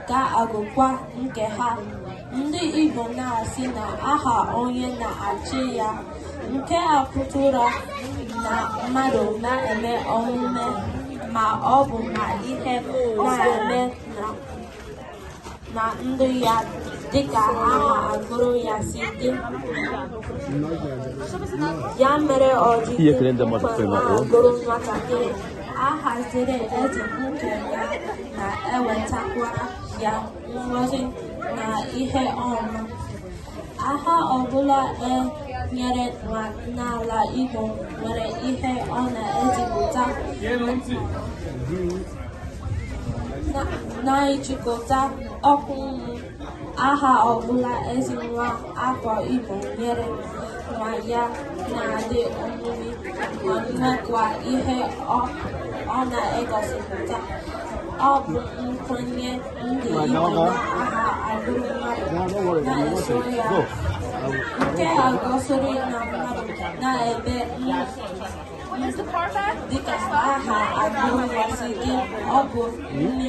ka agụkwa nke ha ndị Igbo na-asị na aha onye na-achị ya nke a pụtara na mmadụ na-eme omume ma ọ bụ na ihe na-eme na ndụ ya dịka aha agụrụ ya si dị ya mere o ji na-agụrụ nwatakịrị aha ziri ezi nke ga na-ewetakwara ya ngọzi na ihe ọma aha ọbụla e nyere n'ala Igbo nwere ihe ọ na-ezipụta na-ejikọta ọnụ aha ọbụla ezi nwa afọ Igbo nyere nwa ya na-adị omimi ma nwekwa ihe ọ na-egosipụta ọ bụ nkwenye ndị Igbo na aha agụrụ mmadụ na-eso ya nke a gosiri na mmadụ na-eme dịka aha agụrụ ya si dị ọ bụ nne